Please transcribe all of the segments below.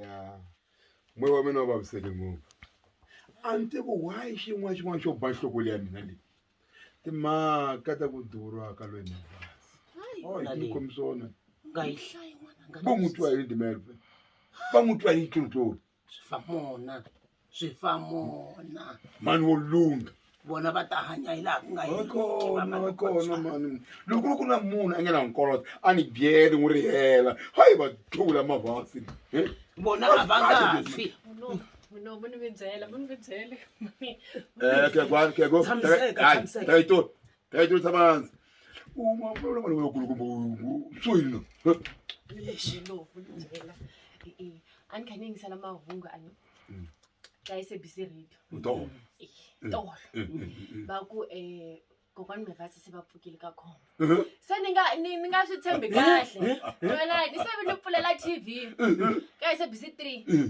ya moya wa mina wa vaviseke ngopfu a ni tivi why xin'wana xin'wana xo ba nhloko leya mina leyi timhaka ta ku durha ka loyi mavasi o hi tikombi swona va n'wi twa hi dimelve va n'wi twa hi tlontloni swi fa mona swi fa mona mani wo lungha vona va ta hanya hi laha ku nga kona mani loko ri ku na munhu a nge na nkoloto a ni byele n'wi ri hela hayi va thula mavasi vona a va nga fi Dai to tsabanza. Uma ufuna mali wekulukumba usuyini lo. Lexi lo vundzela. Eh a ni kha ni yingisela mahungu a ni Mm. ka SABC radio. Ndo. Eh Mm. tolo. Eh, eh, eh. Ba ku eh kokwani Mevasi se va pfukile ka khombo. Eh, Se ni nga ni ni nga swi tshembi kahle. Wena ni se ni pfulela TV ka SABC 3. eh.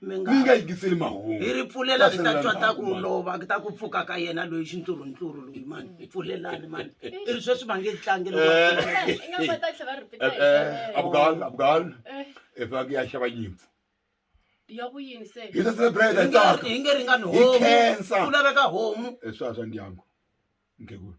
mi nga mi nga yingiseli mahungu hi ri pfulelani hi ta twa ta ku lova ta ku pfuka ka yena loyi xintluruntluru loyi mani hi pfulelani mani i ri sweswi va nge tlangi abgal abgal i faneke ya xava nyimpfu ya kuyini se hi ta celebrate hi tsaka hi nge ringani homu ku laveka homu swa swa ndyangu nkhegulu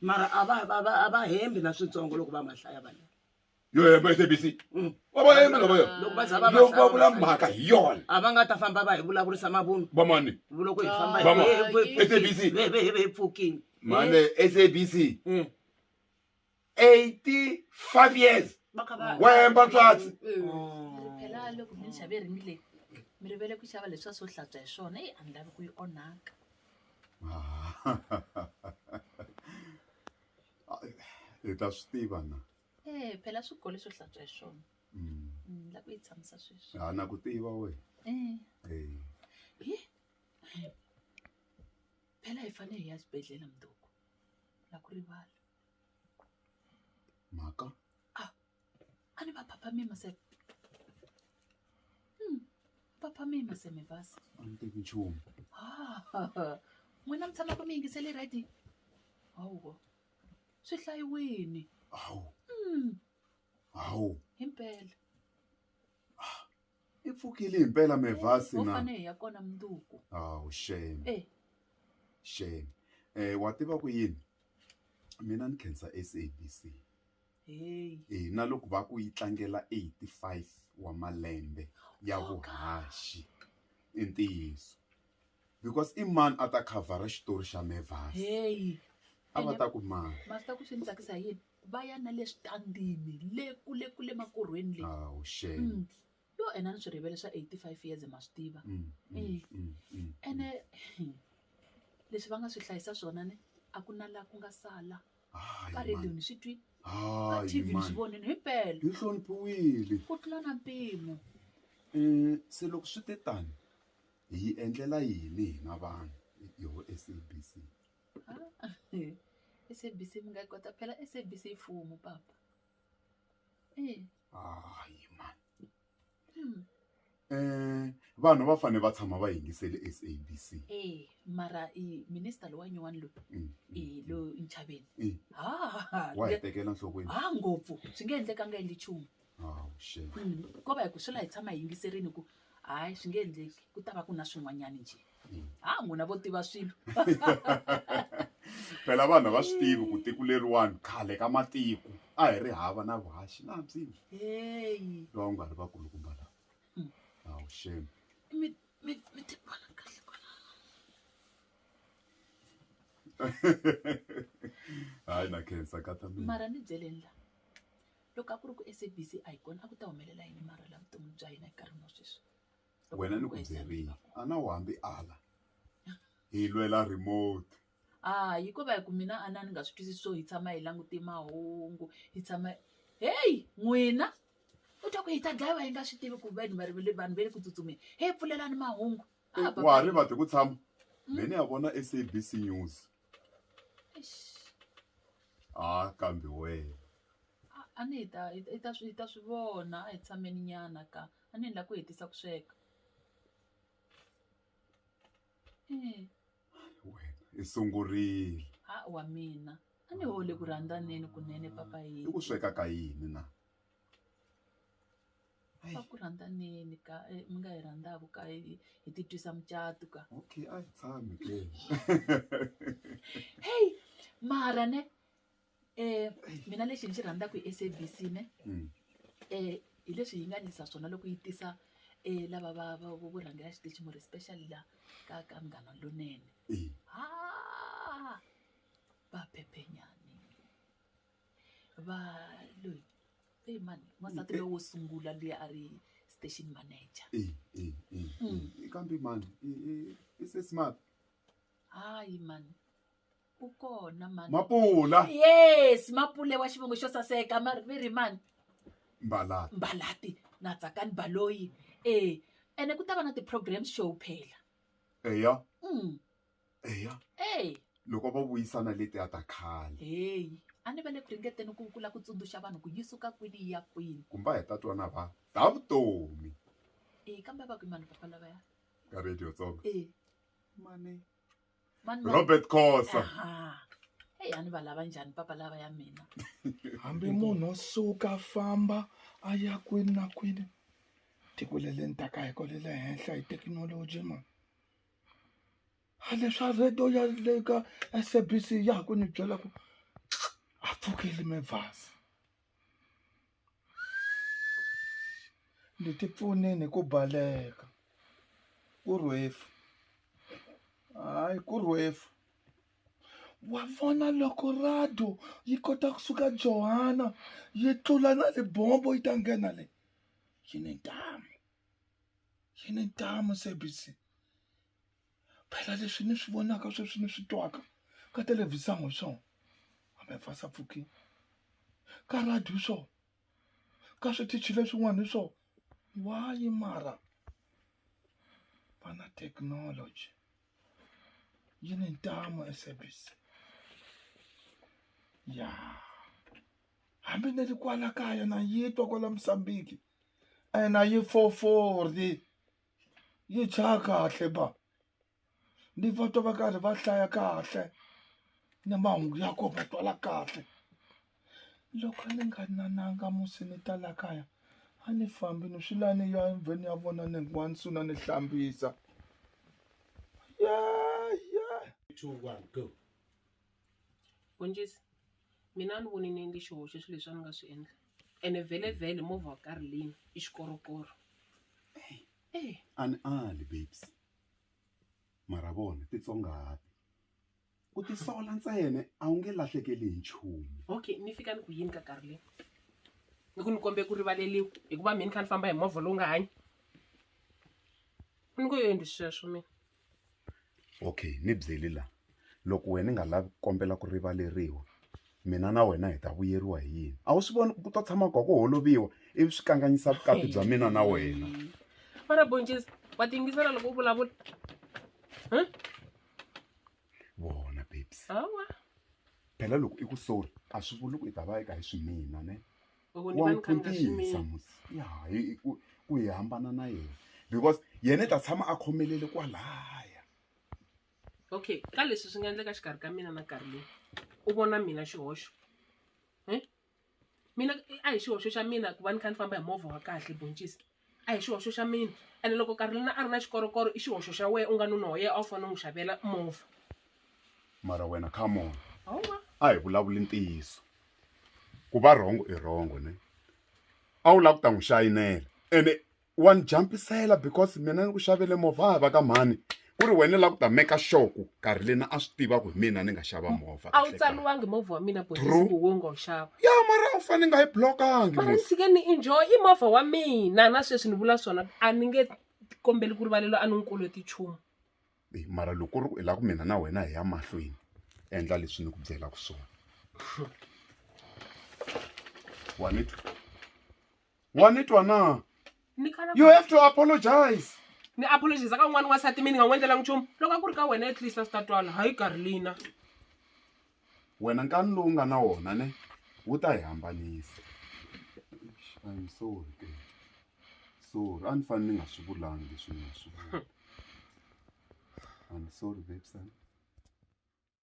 mara a va va va a va hembi na switsongo loko va ma hlaya vanhu yo hemba i sabc va va hembi lava yo loko va za va ma loko va hlaya vula mhaka hi yona a va nga ta famba va hi vulavurisa mavunwa vamani loko hi famba hi- Vama. hi- hi- hi- SABC. hi- hi- hi- hi pfukile mane sabc Mm. 85 years va kha va- Wemba tswatsi. Eh. Mm. phela loko mi ni xave ringi leyi mi rivele ku xava leswi a swo hlantswa hi swona eyi a ni lavi ku yi onhaka hi ta swi tiva na e phela swi gole swo hlantswa hi swona Mm. ni lava ku yi tshamisa sweswi ha na ku tiva wena Eh, Eh, hi phela hi fanele hi ya xibedhlele mundoko na ku rivala mhaka a ni va phaphamima se Hmm, phaphamima se mi basa a ni tivi nchumu Ah, n'wina mi tshamaka mi yingisele rhadi hawu swi hlayiwini hawu Hmm, hawu himpela I pfukile himpela Mevasi na? Ho fane hi ya kona mundzuku. Awu shame. E. Shame. Eh wa tiva ku yini mina ni khensa SABC. Hey. Eh na loko va ku yi tlangela eighty five wa malembe ya vuhaxi i ntiyiso because i mani a ta khavhara xitori xa Mevasi. Hey. A va ta ku mani. Ma swi tiva ku swi ni tsakisa hi yini? va ya na le switandini le kule kule makorhweni le awu shame Mm. yo ena ni swi rivele swa 85 years ma swi tiva Mm, mm, Eh. mm, mm. ene leswi va nga swi hlayisa swona ne a ku na laha ku nga sala Hayi, ka man. radiyo ni swi twi ka Hayi, tv ni man. swi vonini himpela yi hloniphiwile ku tlula na mpimo um se loko swi te tani hi yi endlela yini hina vanhu yoho sabc SABC mi nga yi kota phela SABC i mfumo papa hayi mhani vanhu va fanele va tshama va yingisele SABC mara i minister lowa nyuwani loyi i loyi Nchaveni wa hi tekela enhlokweni ha ngopfu swi nge endlekanga yini nchumu. Oh, shame. Mm, ko va hi ku swi la hi tshama hi yingiserini ku hayi swi nge endleki ku ta va ku na swin'wanyani njhe ha n'wina vo tiva swilo phela vanhu a va swi tivi ku tiko leriwani khale ka matiko a hi ri hava na vuhaxi na byihi heyi lowa ku nga ri vakulukumba lawa Mm. awu shame mi mi mi ti vona kahle kwala hayi na khensa kata mina mara ni byeleni la loko a ku ri ku SABC a yi kona a ku ta humelela yini mara la vutomi bya hina enkarhini wa sweswi wena ni ku byerile a na wu hambi ala hi lwela remote a hikuva hi ku mina a na ni nga swi twisisi swo hi tshama hi langute mahungu hi tshama heyi n'wina u twa ku hi ta dlayiwa hi nga swi tivi ku vanhu vanhu va le ku tsutsumeni hi pfulelani mahungu wa ha ri vati ku tshama me ni ya vona SABC news Ha kambe wena. A ni hi ta hi ta hi ta swi hi ta swi vona a hi tshamenyana ka. A ni lava ku hetisa ku sweka. Wena i sungurile. Ha wa mina. A ni hole ku rhandzaneni kunene papa yini. I ku sweka ka yini na? Hayi. Ku rhandzaneni ka eh, mi nga yi rhandzaku ka hi hi ti twisa mucato ka okay a hi tshami ke heyi mara ne um mina lexi ni xi rhandzaka hi sabc ne Mm. um hi leswi yi nga ndlisa swona loko yi tisa um lava va va- vo vo rhangela xitichi mori especially la ka ka munghana lonene Eh. ha va phephenyani va loyi eyi mani n'wansati loyi wo sungula loyi a ri station manager eyi eyi eyi Mm. eyi. kambe mani i- i- i se smart hayi mani u kona mani mapula yes mapule wa xivongo xo saseka ma ri ri mani mbalati mbalati na tsakani baloyi e ene ku ta va na ti-program show phela eya um eya eyi loko va vuyisana letiya ta khale heyi a ni va le ku ringeteni ku kula ku tsundzuxa vanhu ku yi suka kwini yi ya kwini kumbe a hi ta twana va ta vutomi e kambe a va kwi mani papa lavaya ka radio tsonga e mani mani mani- robert khosa Aha. eyi a ni va lava njhani papa lava ya mina hambi munhu o suka a famba a ya kwini na kwini tiko le le ni taka hi ko le le henhla hi thekinoloji ma a leswa radio ya le ka SABC ya ha ku ni byela ku a pfukile Mavasa ni ti pfuneni hi ku baleka ku rhwefu hayi ku rhwefu wa vona loko rado yi kota kusuka Johanna yi tlula na libombo yi ta nghena le yi ni ntamu. yi ni ntamu SABC phela leswi ni swi vonaka sweswi ni swi twaka ka thelevhizini hi swona hambi va sa pfuki ka radio hi swona ka switichi leswin'wana hi swona why mara va na technology yi ni ntamu SABC ya hambi ni ri kwala kaya na yi twa kwala Musambiki. ena yi fofori yi tsha kahle ba ni va twa va karhi va hlaya kahle ni mahungu ya kona va twala kahle loko ni nga nananga musi ni ta la kaya a ni fambi ni swi lava ni ya endhawini ya vona ni hikuva ni sungula ni hlambisa two one go Bonjisi mina a ni voni nenge xihoxo swilo leswi a ni nga swi endla ene vhelevhele movha wa karolini i xikorokoro e a ni ali babes mara vona titsongahapi ku tisola ntsena a wu nge lahlekeli hi nchumu okay ni fika ni ku yini ka karolini ni ku ni kombe ku rivaleliwa hikuva mi ni kha ni famba hi movha lowu nga hanyi ni ku yo endli sweswo mina okay ni byeli la loko wena ni nga lavi ku kombela ku rivaleriwa mina na wena hi ta vuyeriwa hi yini a wu swi voni ku ta tshama gwa ku holoviwa ivi swi kanganyisa vukati bya mina na wena fara boncisi wa tingisela loko u vulavula vona babes hawa phela loko i ku sori a swi vuli ku i ta va i ka hi swi mina ne Loko ni wa va n'wi ni khandziya khuntisa swinene. musi ya hi hi ku ku hi hambana na yena because yena i ta tshama a khomelele kwalaya okay ka leswi swi nga endleka xikarhi ka mina na karhi leyi u vona mina xihoxo Hi? mina a hi xihoxo xa mina ku va ni kha ni famba hi movha wa kahle boncisi a hi xihoxo xa mina ene loko karolina a ri na xikorokoro i xihoxo xa wena u nga nuna wa yena a wu fanele u n'wi xavela movha mara wena come on hawa a hi vulavuli ntiyiso ku va rhongo i rhongo ne a wu lava ku ta n'wi xayinela ene wa ni jampisela because mina ni ku xavele movha a hi va ka mhani ku ri wena la ku ta make sure ku karhi lena a swi tiva ku hi mina ni nga xava movha a wu tsaliwangi movha wa mina boxisiku wo nga wu xava ya mara a wu fane nga yi blokangi mara ni tshike ni enjoy i movha wa mina na sweswi ni vula swona a ni nge kombeli ku rivalelo a ni n'wi koloti nchumu mara loko ri hi la ku mina na wena hi ya mahlweni endla leswi ni ku byelaka swona wa ni twa wa ni twa na ni kala you have to apologize ni apologize ka un'wana n'wansati mi ni nga n'wi endlelanga nchumu loko a ku ri ka wena at least a swi ta twala hayi karlina wena nkani lowu nga na wona ne wu ta hi hambanisa I'm sorry ke sorry a ni fanele ni nga swi vulangi leswi ni nga swi vula I'm sorry babes